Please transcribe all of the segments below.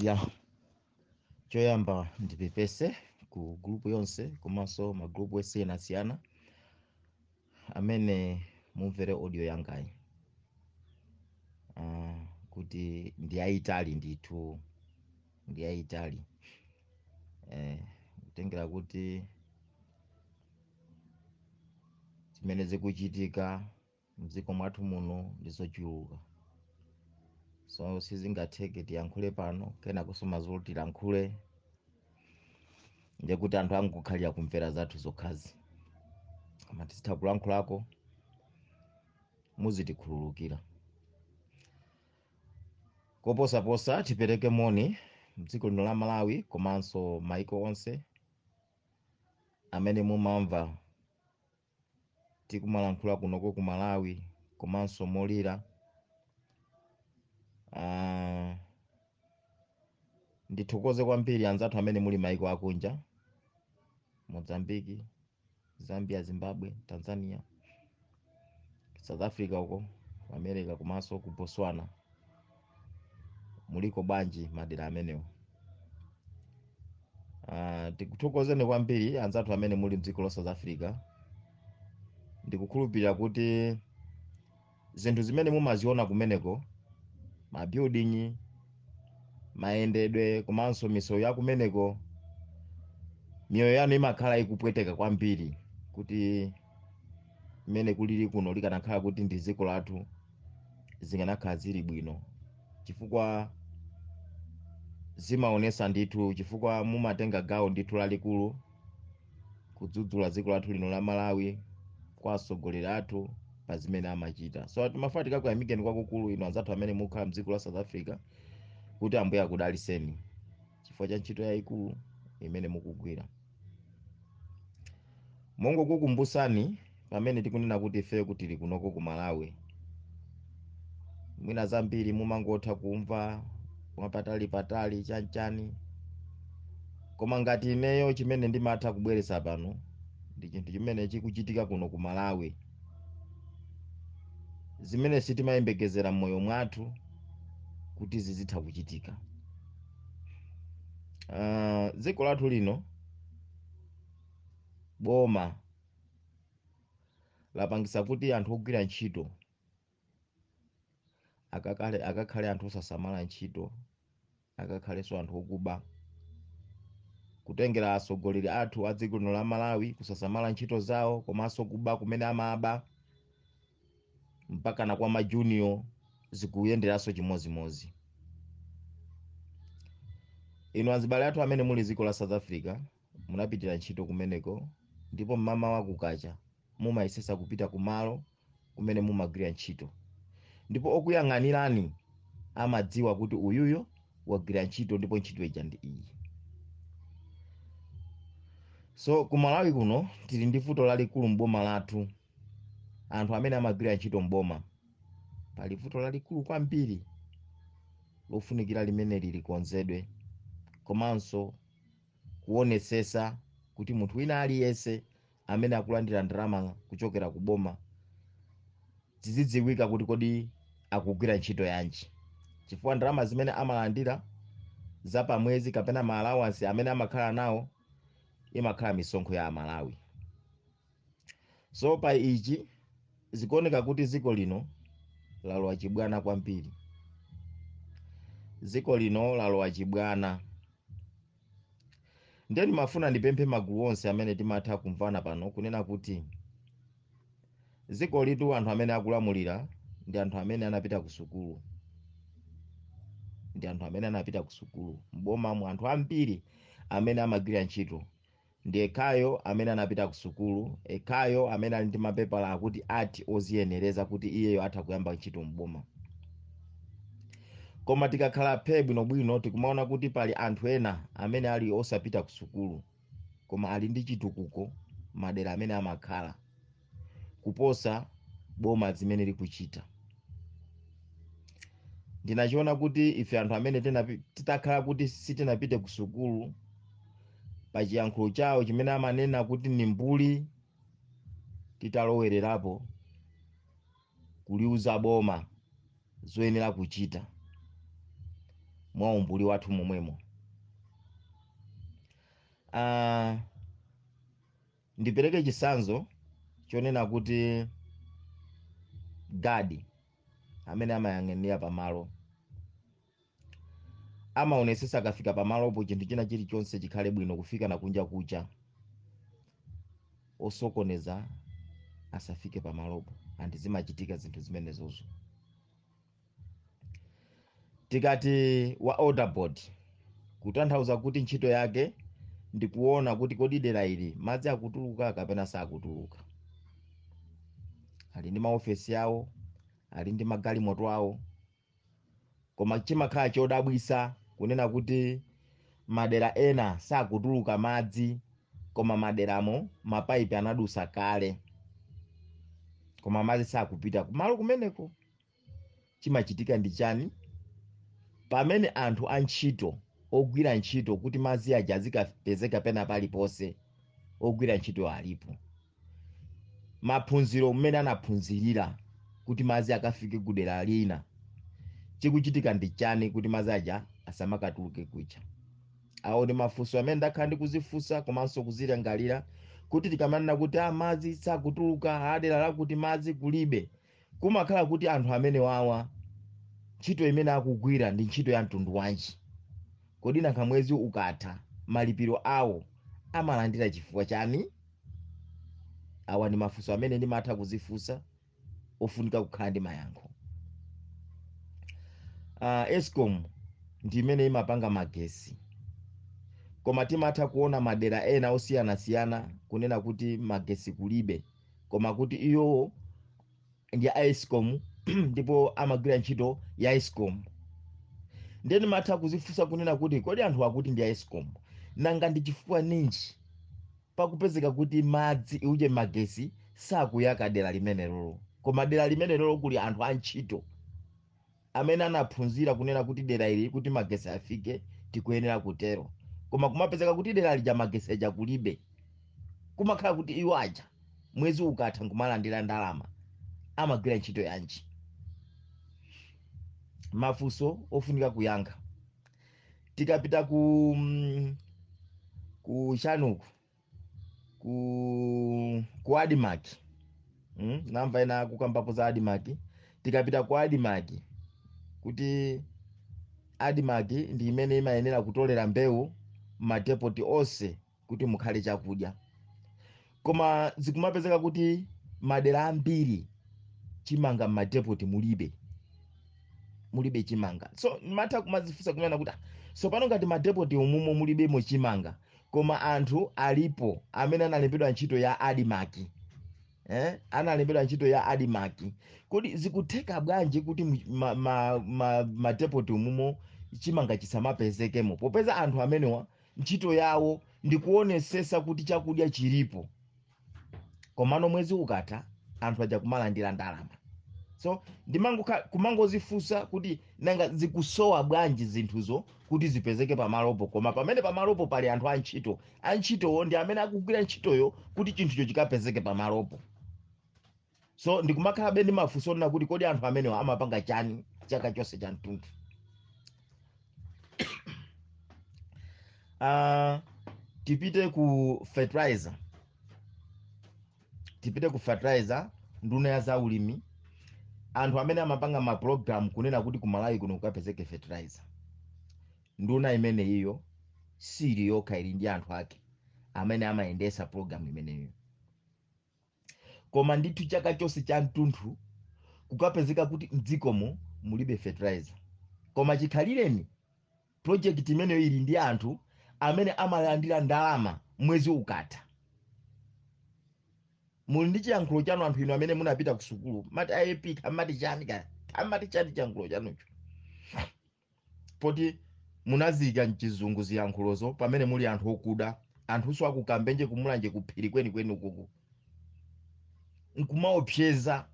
ya choyamba ndipepese ku gurupu yonse komanso magurupu osiyanasiyana amene mumvere audio yangayi uh, kuti ndiyayitali ndithu ndiyayitali eh, kutengera kuti zimene zikuchitika mdziko mwathu muno ndi zochuluka so sizingatheke tiyankhule pano kena kusowa zoti tilankhule ndekuti anthu angokhalira kumvera zathu zokhazo koma tizitha kulankhulako muzitikhululukira koposaposa tipereke moni mdziko lino la malawi komanso maiko onse amene mumamva tikumalankhula kunoko ku malawi komanso molira Ah, ndithokoze kwambiri anzathu amene muli maiko akunja mozambiki zambia zimbabwe tanzania south africa uko ku america komanso ku botswana muliko bwanji madera amenewo Ah, tikuthokozeni kwambiri anzathu amene muli mdziko la south africa ndikukhulupirira kuti zinthu zimene mumaziona kumeneko mabuilding mayendedwe komanso misewu ya kumeneko miyoyo yanu imakhala ikupweteka kwambiri kuti mmene kulili kuno likanakhala kuti ndi dziko lathu zikanakhala zili bwino chifukwa zimaonesa ndithu chifukwa mumatenga gawo ndithu lalikulu kudzudzula dziko lathu lino la malawi kwa atsogoleri athu pa zimene amachita so timafuna tikakuyamikeni kwakukulu inu anzathu amene mukhala mdziko la south africa kuti ambuye akudaliseni chifukwa cha ntchito yayikulu imene mukugwira mongokukumbusani pamene tikunena kuti ife kuti tili kunoko ku malawi mwina zambiri mumangotha kumva mwapatali patali chanchani koma ngati ineyo chimene ndimatha kubweretsa pano ndi chinthu chimene chikuchitika kuno ku malawi zimene sitimayembekezera m'moyo mwathu kuti zizitha kuchitika Ah, dziko lathu lino boma lapangisa kuti anthu ogwira ntchito akakale akakhale anthu osasamala ntchito akakhalenso anthu okuba kutengera atsogoleri athu a dziko lino la malawi kusasamala ntchito zawo komanso kuba kumene amaba mpaka na kwa majunior zikuyenderanso chimodzimodzi inu azibale athu amene muli m'dziko la south africa munapitira ntchito kumeneko ndipo mmamawa kukacha mumayesetsa kupita kumalo kumene mumagwira ntchito ndipo okuyang'anirani amadziwa kuti uyuyo wagwira ntchito ndipo ntchito ija ndi iyi so ku malawi kuno tili ndi vuto lalikulu m'boma lathu anthu amene amagwira ntchito m'boma pali vuto lalikulu kwambiri lofunikira limeneli likonzedwe komanso kuonetsetsa kuti munthu wina aliyense amene akulandira ndalama kuchokera ku boma zizidziwika kuti kodi akugwira ntchito yanji chifukwa ndalama zimene amalandira za pamwezi kapena maalawansi amene amakhala nawo imakhala misonkho ya amalawi so pa ichi zikuoneka kuti dziko lino lalowa chibwana kwambiri dziko lino lalowa chibwana ndiye ndimafuna ndipemphe magulu onse amene timatha kumvana pano kunena kuti dziko ilitu anthu amene akulamulira ndi anthu amene anapita ku sukulu ndi anthu amene anapita ku sukulu m'bomamu anthu ambiri amene amagwira ntchito Ndi ekhayo amene anapita ku sukulu, ekhayo amene ali ndi mapepala akuti ati oziyenereza kuti iyeyo atha kuyamba ntchito m'boma. Koma tikakhala phe bwinobwino tikumaona kuti pali anthu ena amene ali osapita ku sukulu koma ali ndi chitukuko madera amene amakhala. kuposa boma zimene likuchita ndinachiona kuti ife anthu amene titakhala kuti sitinapite ku sukulu pa chiyankhulo chawo chimene amanena kuti ni mbuli titalowererapo kuliuza boma zoyenera kuchita mwa umbuli wathu momwemo Ndipereke chitsanzo chonena kuti gadi amene amayang'anira pamalo amaonetsetsa akafika pamalopo chinthu china chilichonse chikhale bwino kufika na kunja kucha osokoneza asafike pamalopo and zimachitika zinthu zimenezozo tikati wa water board kutanthauza kuti ntchito yake ndi kuona kuti kodi dera ili madzi akutuluka kapena sakutuluka ali ndi maofesi awo ali ndi magalimoto awo koma chimakhala chodabwisa kunena kuti madera ena sakutuluka madzi koma maderamo mapaipi anadusa kale koma madzi sakupita kumalo kumeneko chimachitika ndi chani pamene anthu antchito ogwira ntchito kuti madzi aja azikapezeka pena paliponse ogwira ntchito alipo maphunziro mmene anaphunzirira kuti madzi akafike kudera lina chikuchitika ndi chani kuti madzi aja asamakatuluke kucha awo ndi mafunso amene ndakhala ndikuzifunsa komanso kuzilingalira kuti tikamanena kuti a madzi sakutuluka adera lakuti madzi kulibe kumakhala kuti anthu amenewawa ntchito imene akugwira ndi ntchito ya mtundu wanji kodi nanga mwezi ukatha malipiro awo amalandira chifukwa chani awa ndi mafunso amene ndimatha kuzifunsa ofunika kukhala ndi mayankho uh, escom ndi imene imapanga magesi koma timatha kuona madera ena osiyanasiyana kunena kuti magesi kulibe koma kuti iwowo ndi a escom ndipo amagwira ntchito ya escom nde ndimatha kuzifunsa kunena kuti kodi anthu akuti ndi a escom nanga ndi chifukwa ninji pakupezeka kuti madzi uje magesi sakuyaka dera limenelolo koma dera limenelolo kuli anthu a ntchito amene anaphunzira kunena kuti dera ili kuti magesi afike tikuyenera kutero koma kumapezeka kuti dera lija magesi aja kulibe kumakhala kuti iwo aja mwezi ukatha nkumalandira ndalama amagwira ntchito yanji mafunso ofunika kuyankha tikapita ku mm, ku chanuku ku ku admarc mm? namva ena akukambapo za admarc tikapita ku admarc kuti admarc ndi imene imayenera kutolera mbewu madepoti onse kuti mukhale chakudya koma zikumapezeka kuti madera ambiri chimanga mmadepoti mulibe mulibe chimanga so ndimatha kumazifunsa kunena kuti "Ah, tsopano ngati madepoti umumo mulibemo chimanga Koma anthu alipo amene analembedwa ntchito ya Admarc. Eh? Analembedwa ntchito ya Admarc. Kodi zikutheka bwanji kuti mu- ma, ma, ma, ma depot umumo chimanga chisamapezekemo? Popeza anthu amenewa ntchito yawo ndikuonesesa kuti chakudya chilipo. komano mwezi ukatha anthu aja kumalandira ndalama so ndimangokha- kumangozifunsa kuti nanga zikusowa bwanji zinthuzo kuti zipezeke pamalopo koma pamene pamalopo pali anthu antchito antchitowo ndi amene akugwira ntchitoyo kuti chinthucho chikapezeke pamalopo so ndikumakhalabe ndi mafunso onena kuti kodi anthu amenewa amapanga chani chaka chonse cha mtunthu uh, tipite ku fertilizer nduna ya za ulimi anthu amene amapanga ma program kunena kuti ku malawi kuno kukapezeke fertilizer nduna imeneyiyo sili yokha ili ndi anthu ake amene amayendesa program imeneyo koma ndithu chaka chonse cha mtunthu kukapezeka kuti mdzikomo mulibe fertilizer koma chikhalireni project imeneyo ili ndi anthu amene amalandira ndalama mwezi ukatha muli ndi chiyankhulo chanu anthu inu amene munapita ku sukulu mati AIP kaya mati chani kaya mati chani chiyankhulo chanucho poti munaziika mchizungu ziyankhulozo pamene muli anthu okuda anthunso akukambenje kumulanje kuphiri kwenikweni ukuku nkumaopseza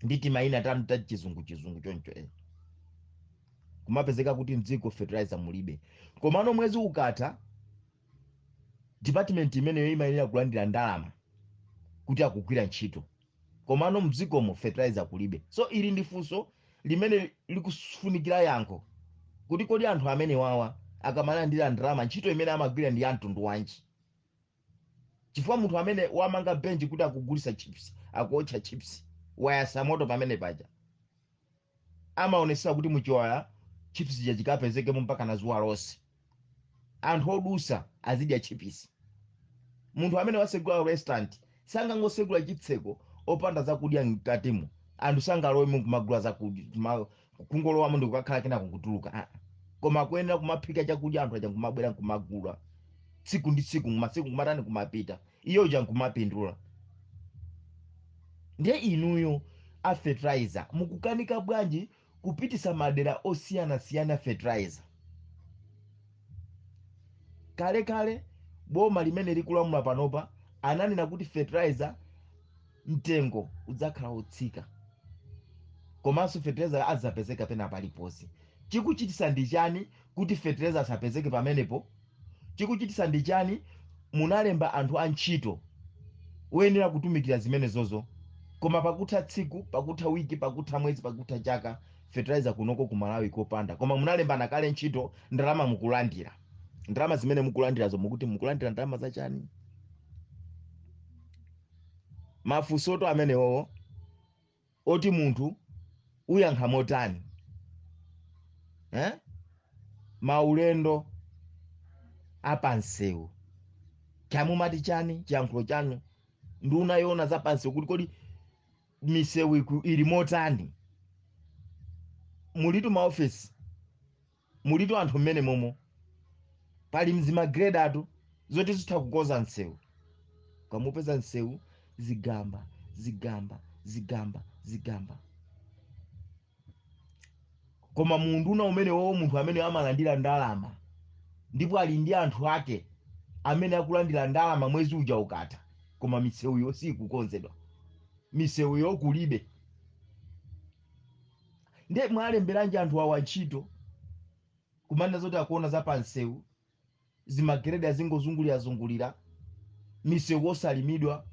ndi timayina tanu ta chizungu chizungu choncho eh. kumapezeka kuti mdziko fertilizer mulibe komano mwezi ukatha department imeneyo imayenera kulandira ndalama kuti akugwira ntchito komano mdzikomo fertilizer kulibe so ili ndi funso limene likufunikira yankho kuti kodi anthu amenewawa akamalandira ndalama ntchito imene amagwira ndi yamtundu wanji chifukwa munthu amene wamanga benchi kuti akugulisa chips akuotcha chips wayasa moto pamene paja amaonesesa kuti muchiwaya chips chija chikapezekemo mpaka na zuwa lonse anthu odusa azidya chipisi munthu amene wasegula restaurant sangangosegula chitseko opanda zakudya mkatimo anthu sangalowemo kumagula zakudya kuma- kungolowamo ndikukakhala kenaka kutuluka Ah, ah. koma kuyenera kumaphika chakudya anthu aja kumabwera kumagula tsiku ndi tsiku masiku kumatani kumapita iye uja nkumapindula ndiye inuyo a fertilizer mukukanika bwanji kupitisa madera osiyanasiyana fertilizer kale kale boma limene likulamula panopa ananena kuti fertilizer mtengo udzakhala utsika komanso fertilizer adzapezeka pena paliponse chikuchitisa ndi chani kuti fertilizer asapezeke pamenepo Chikuchitisa ndi chani? Munalemba anthu antchito oyenera kutumikira zimenezozo koma pakutha tsiku, pakutha week, pakutha mwezi, pakutha chaka fertilizer kunoko ku Malawi kopanda. Koma munalembana kale ntchito ndalama mukulandira. Ndalama zimene mukulandirazo mukuti mukulandira ndalama za chani? Mafunsotu amenewowo. oti munthu uyankha motani eh? maulendo apamsewu cha mumati chani chiyankhulo chanu nduna yoona za pamsewu kuti kodi misewu iku- ili motani mulitu maofesi mulitu anthu mmene momo pali mzimagredatu zoti zitha kukonza msewu ukamupeza msewu zigamba zigamba zigamba zigamba koma muunduna umenewowo munthu amene amalandira ndalama ndipo ali ndi anthu ake amene akulandira ndalama mwezi uja ukatha koma misewuyo sikukonzedwa misewuyo kulibe Nde mwalemberanji anthu awa ntchito kumanena zoti akuona za pa msewu, zimageredi azingozungulirazungulira, misewu osalimidwa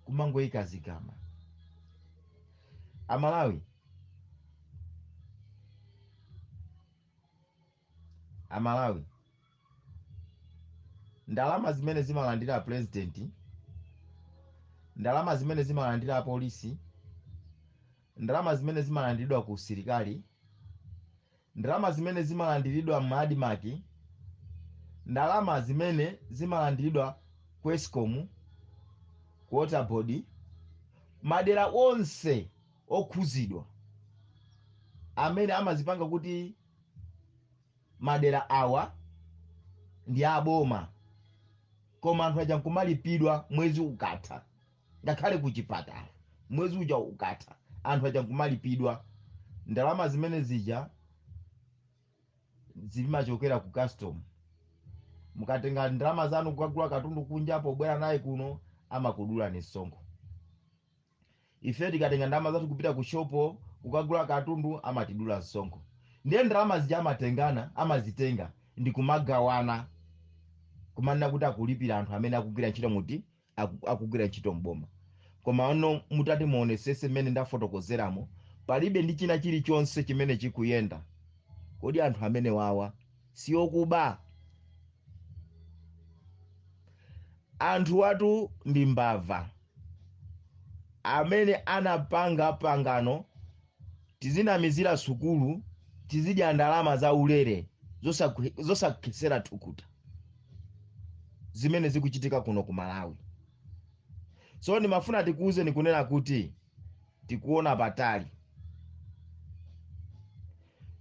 kumangoika zigamba. A Malawi. amalawi ndalama zimene zimalandira apurezidenti ndalama zimene zimalandira apolisi ndalama zimene zimalandiridwa ku usilikali ndalama zimene zimalandiridwa mmadimaki ndalama zimene zimalandiridwa ku escom ku waterboard madera onse okhuzidwa amene amazipanga kuti madera awa ndi aboma koma anthu aja nkumalipidwa mwezi ukatha ngakhale ku chipatala mwezi uja ukatha anthu aja nkumalipidwa ndalama zimene zija zimachokera ku custom mukatenga ndalama zanu kukagula katundu kunja pobwera naye kuno amakudulani msonkho ife tikatenga ndalama zathu kupita ku shopo kukagula katundu amatidula msonkho ndiye ndalama zija amatengana amazitenga ndi kumagawana kumanena kuti akulipira anthu amene akugwira ntchito muti aku- akugwira ntchito mboma koma ono mutati muonetsetse mmene ndafotokozeramo palibe ndi china chilichonse chimene chikuyenda kodi anthu amenewawa si okuba anthu awatu ndi mbava amene anapanga pangano tizinamizira sukulu tizidya ndalama za ulere zosakhetsera thukuta zimene zikuchitika kuno ku malawi so ndimafuna tikuuze ndikunena kuti tikuona patali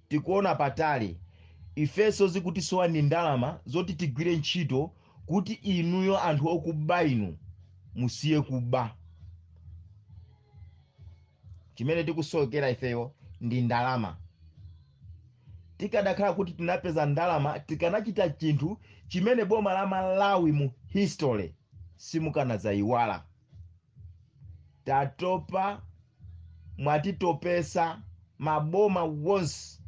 tikuona patali ifeso zikutisowa ndi ndalama zoti tigwire ntchito kuti inuyo anthu okuba inu musiye kuba chimene tikusowekera ifeyo ndi ndalama tikanakhala kuti tinapeza ndalama tikanachita chinthu chimene boma la malawi mu history simukanadzayiwala tatopa mwatitopesa maboma wonse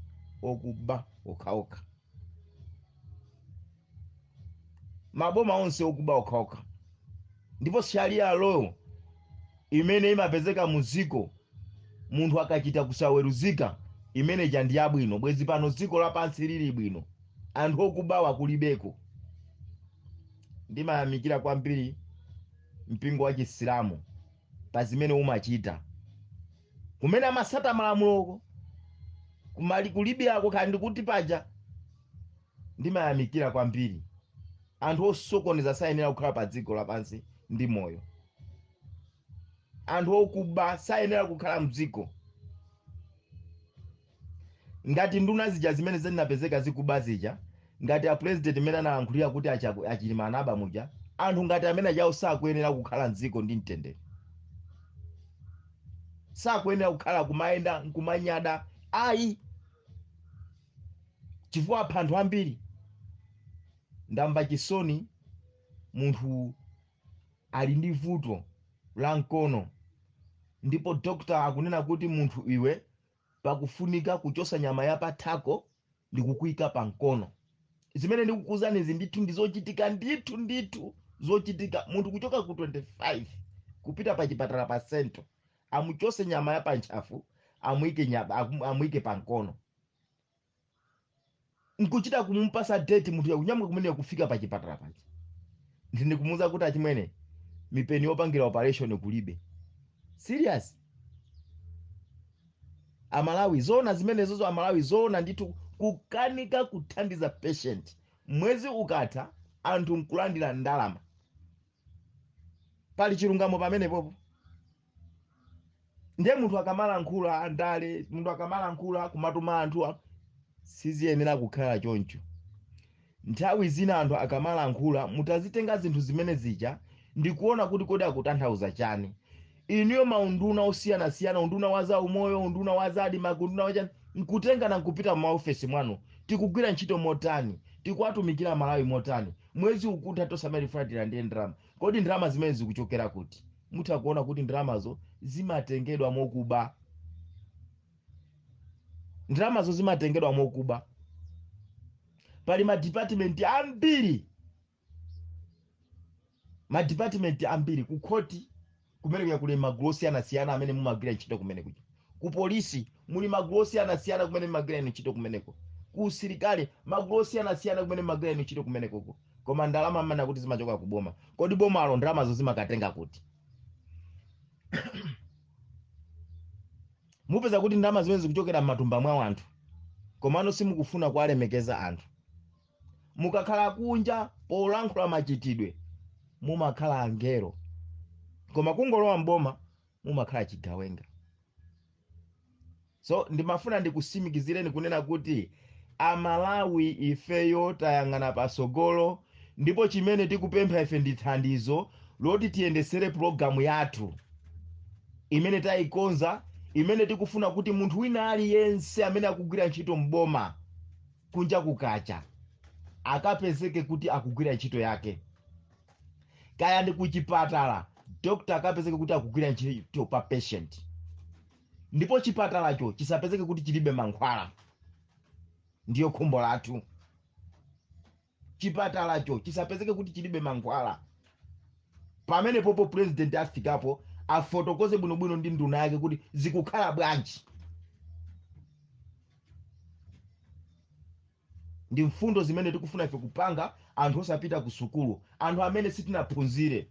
okuba okhaokha maboma onse okuba okhaokha ndipo sharia law imene imapezeka mu dziko munthu akachita kusaweruzika imene ija ndi yabwino bwezi pano dziko lapansi lili bwino anthu okubawa kulibeko ndimayamikira kwambiri mpingo wa Chisilamu pa zimene umachita. Kumene amasata malamulowo kumali kulibiyako kaya ndikuti paja ndimayamikira kwambiri anthu osokoneza sayenera kukhala pa dziko lapansi ndi moyo anthu okuba sayenera kukhala mdziko ngati nduna zija zimene zinapezeka zikuba zija ngati a president amene analankhulira kuti a Chaku- a Chilima anaba muja anthu ngati amene ajawo sakuyenera kukhala mdziko ndi mtendere sakuyenera kukhala kumayenda nkumanyada ayi chifukwa apha anthu ambiri ndamva chisoni munthu ali ndi vuto la mkono ndipo dokta akunena kuti munthu iwe pakufunika kuchosa nyama ya pa thako ndikukuika pa mkono zimene ndikukuuzanizi ndithu ndizochitika ndithu ndithu zochitika munthu kuchoka ku 25 kupita pa chipatala pa sento amuchose nyama ya pantchafu amuike nyama amuike pa mkono nkuchita kumupasa date munthuyo kunyamuka kumene kufika pa chipatala paja ndi nkumuuza kuti achimwene mipeni yopangira operation kulibe serious amalawi zoona zimenezozo amalawi zoona ndithu kukanika kuthandiza patient mwezi ukatha anthu nkulandira ndalama pali chilungamo pamenepopo ndiye munthu akamalankhula andale munthu akamalankhula kumatuma anthu a- siziyenera kukhala choncho nthawi zina anthu akamalankhula mutazitenga zinthu zimene zija ndikuona kuti kodi akutanthauza chani inuyo maunduna osiyanasiyana unduna wa zaumoyo unduna wa za admarc unduna wa chani nkutengana nkupita m'maofesi mwanu tikugwira ntchito motani tikuwatumikira malawi motani mwezi ukutha tisamalefuna tilandire ndalama kodi ndalama zimene zikuchokera kuti mutha kuona kuti ndalamazo zimatengedwa mokuba ndalamazo zimatengedwa mokuba pali madipatimenti ambiri madipatimenti ambiri kukhoti kumene kuja kuli magulu osiyanasiyana amene mumagwira ntchito kumene kuja ku polisi muli magulu osiyanasiyana kumene mumagwira inu ntchito kumeneko ku usilikali magulu osiyanasiyana kumene mumagwira inu ntchito kumenekoko koma ndalama mmene kuti zimachoka ku boma kodi bomalo ndalamazo limakatenga kuti mupeza kuti ndalama zimene zikuchokera m'matumba mwa anthu komano simukufuna kuwalemekeza anthu mukakhala kunja polankhula machitidwe mumakhala angelo koma kungolowa mboma mumakhala chigawenga so ndimafuna ndikusimikizireni kunena kuti amalawi ifeyo tayang'ana pasogolo ndipo chimene tikupempha ife ndi thandizo loti tiyendesere pulogalamu yathu imene tayikonza imene tikufuna kuti munthu wina aliyense amene akugwira ntchito mboma kunja kukacha akapezeke kuti akugwira ntchito yake kaya ndi kuchipatala dokta akapezeke kuti akugwira ntchito pa patient ndipo chipatalacho chisapezeke kuti chilibe mankhwala ndiye khumbo lathu chipatalacho chisapezeke kuti chilibe mankhwala pamenepopo president afikapo afotokoze bwinobwino ndi nduna yake kuti zikukhala bwanji ndi mfundo zimene tikufuna ife kupanga anthu osapita ku sukulu anthu amene sitinaphunzire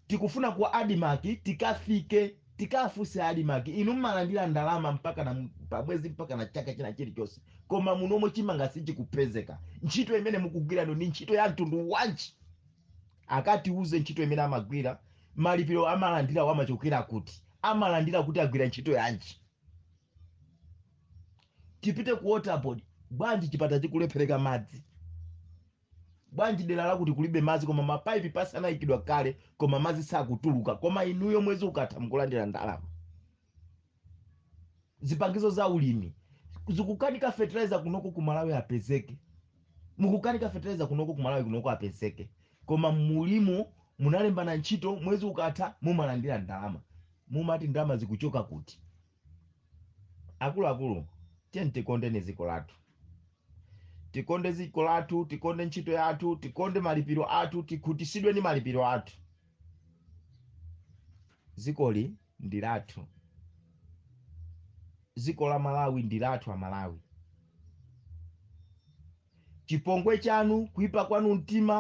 tikufuna ku admarc tikafike tikafunse admarc inu mmalandira ndalama mpaka na pamwezi mpaka na chaka china chilichonse koma munomo chimanga sichikupezeka ntchito imene mukugwira muno ndi ntchito ya mtundu wanji akatiuze ntchito imene amagwira malipiro amalandirawa amachokera kuti amalandira kuti agwira ntchito yanji tipite ku waterboard bwanji chipatala chikuperewera madzi bwanji dera lakuti kulibe madzi koma mapaipi pasi anayikidwa kale koma madzi sakutuluka koma inuyo mwezi ukatha mukulandira ndalama zipangizo za ulimi zikukanika fertilizer kunoko ku malawi apezeke mukukanika fertilizer kunoko ku malawi kunoko apezeke koma mulimo munalembana ntchito mwezi ukatha mumalandira ndalama mumati ndalama zikuchoka kuti akuluakulu tiyeni tikondeni dziko lathu tikonde dziko lathu tikonde ntchito yathu tikonde malipiro athu tikhutisidwe ndi malipiro athu dzikoli ndi lathu dziko la malawi ndi lathu amalawi chipongwe chanu kuipa kwanu mtima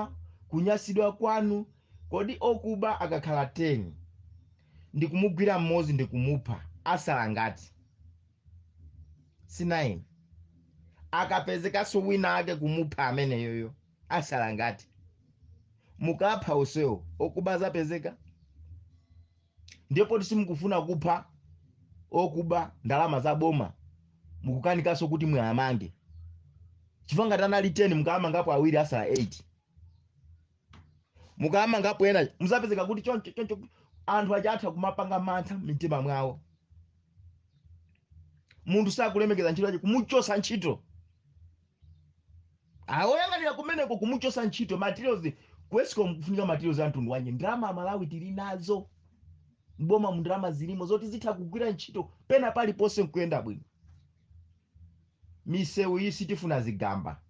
kunyasidwa kwanu kodi okuba akakhala 10 ndikumugwira mmodzi ndikumupha asala ngati si 9 akapezekanso wina ake kumupha ameneyoyo asala ngati mukapha onsewo okuba azapezeka ndipo simukufuna kupha okuba ndalama za boma mukukanikanso kuti muwamange chifukwa ngati anali 10 mukamangapo awiri asala 8 mukamangapo ena muzapezeka kuti choncho choncho anthu aja atha kumapanga mantha mmitima mwawo munthu sakulemekeza ntchito yake kumuchosa ntchito oyang'anira kumeneko kumuchosa ntchito materials kwesiko mkufunika materials a mtundu wanji ndalama amalawi tili nazo m'bomamu ndalama zilimo zoti zitha kugwira ntchito pena paliponse nkuyenda bwino misewu iyi sitifuna zigamba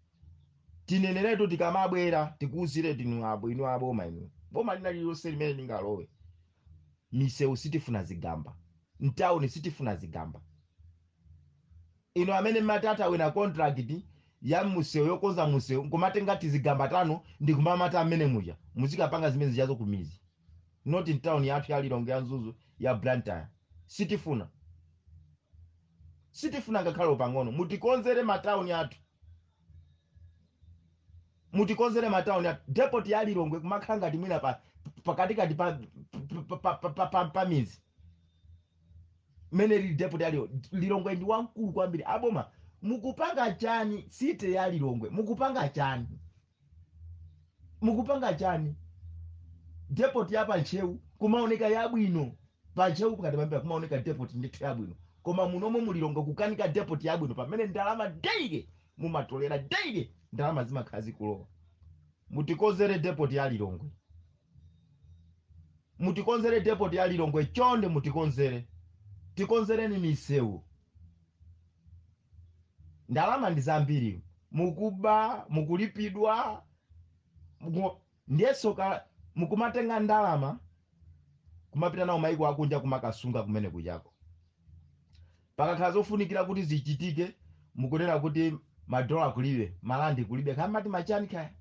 tineneretu tikamabwera tikuuziretu abo inu aboma inu boma lina lililonse limene lingalowe misewu sitifuna zigamba mtawuni sitifuna zigamba inu amene mumatawina contract ya musewu yokonza musewu nkumatenga tizigamba tanu ndikumamata amene muja muzikapanga zimene zijazo kumizi not mtown yathu ya lilongwe ya mzuzu ya blantyre sitifuna sitifuna ngakhale pang'ono mutikonzere matauni athu mutikonzere matauni athu depot ya lilongwe kumakhala ngati mwina pa pakatikati pa pa- pa- pa- pa- pa- pa mizi mmene lili depot ya lilongwe lilongwe ndi wamkulu kwambiri aboma mukupanga chani city ya lilongwe mukupanga chani mukupanga chani depot ya pantcheu kumaoneka yabwino pantcheu pakati pambira kumaoneka depot ndithu yabwino koma munomo mu lilongwe kukanika depot yabwino pamene ndalama daily mumatolera daily ndalama zimakhala zikulowa mutikonzere depot ya lilongwe mutikonzere depot ya lilongwe chonde mutikonzere tikonzereni misewu ndalama ndi zambiri mukuba mukulipidwa muku- ndiyenso ka- mukumatenga ndalama kumapita nawo maiko akunja kumakasunga kumene kujako pakakhala zofunikira kuti zichitike mukunena kuti madola kulibe malandi kulibe kaya ati machani kaya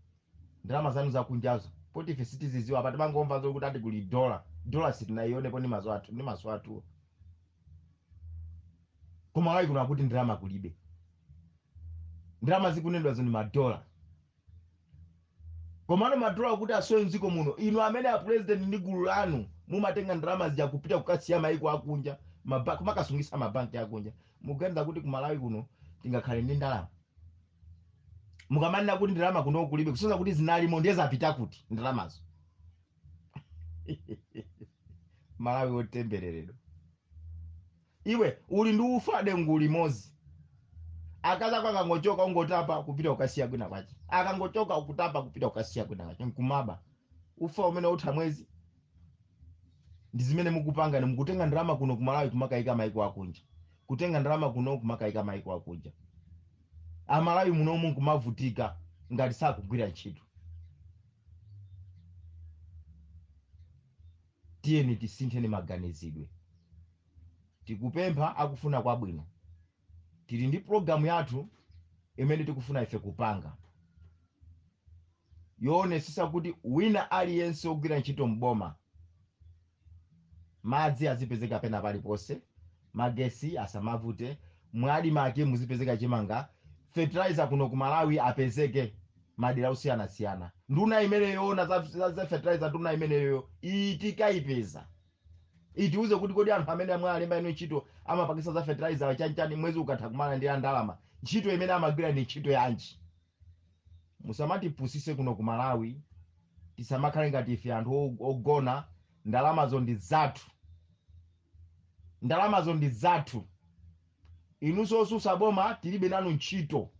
ndalama zanu zakunjazo poti ife sitiziziwa apa timangomva zokuti ati kuli dola dola sitinayionepo ndi maso athu ndi maso athu kumalawi kuno akuti ndalama kulibe ndalama zikunenedwazo ndi madola komano madola akuti asowe mdziko muno inu amene a president ndi gulu lanu mumatenga ndalama zija kupita kukasiya maiko akunja maba- kumakasungisa mabanki akunja muganiza kuti kumalawi kuno tingakhale ndi ndalama mukamanena kuti ndalama kuno kulibe kusonza kuti zinalimo ndiye zapita kuti ndalamazo malawi wotembereredwa iwe uli ndi ufa dengu limodzi akazako akangochoka ungotapa kupita kukasiya kwina kwache akangochoka ukutapa kupita kukasiya kwina kwache nkumati ufa umene utha mwezi ndi zimene mukupanga ni mukutenga ndalama kuno kumalawi kumakayika maiko akunja kutenga ndalama kuno kumakayika maiko akunja amalawi munomu nkumavutika ngati sakugwira ntchito tiyeni tisintheni maganizidwe tikupempha akufuna kwabwino tili ndi pulogalamu yathu imene tikufuna ife kupanga yoonetsetsa kuti wina aliyense wogwira ntchito m'boma, madzi azipezeka pena paliponse, magesi asamavute, mu Admarc muzipezeka chimanga, fertilizer kuno ku Malawi apezeke madera osiyanasiyana. Nduna imene yoona za, za, za fertilizer nduna imeneyo tikaipeza itiuze kuti kodi anthu amene mwawalembawo ntchito amapakisa za fertilizer chanchani mwezi ukatha kumalandira ndalama ntchito imene amagwira ndi ntchito yanji musamatipusise kuno ku malawi tisamakhale ngati ife anthu o- ogona ndalamazo ndi zathu ndalamazo ndi zathu inunso osusa boma tilibe nanu ntchito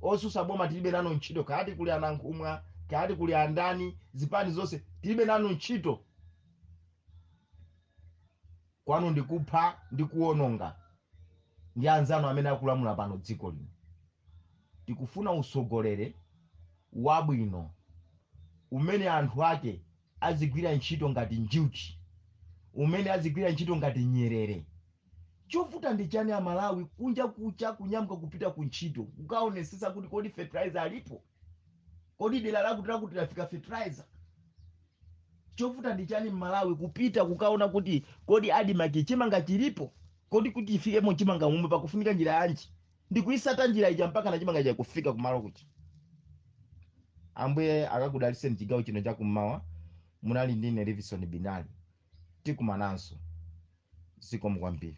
osusa boma tilibe nanu ntchito kaya ati kuli a Nankhumwa kaya ati kuli andani zipani zonse tilibe nanu ntchito kwanu ndikupha ndi kuononga ndi anzanu amene akulamula pano dziko lino Tikufuna utsogoleri wabwino umene anthu ake azigwira ntchito ngati njuchi, umene azigwira ntchito ngati nyerere. Chovuta ndi chani a Malawi kunja kucha kunyamuka kupita ku ntchito kukaonetsetsa kuti kodi fertilizer alipo? Kodi dera lakuti lakuti lafika fertilizer? Chovuta ndi chani a Malawi kupita kukaona kuti kodi Admarc chimanga chilipo? Kodi kuti chifikemo chimanga m'menemo pakufunika njira yanji? ndikuyitsata njira ija mpaka na chimanga chija kufika kumalo kuja ambuye akakudalitseni chigawo chino chakummawa munali ndine livison binali tikumananso zikomo kwambiri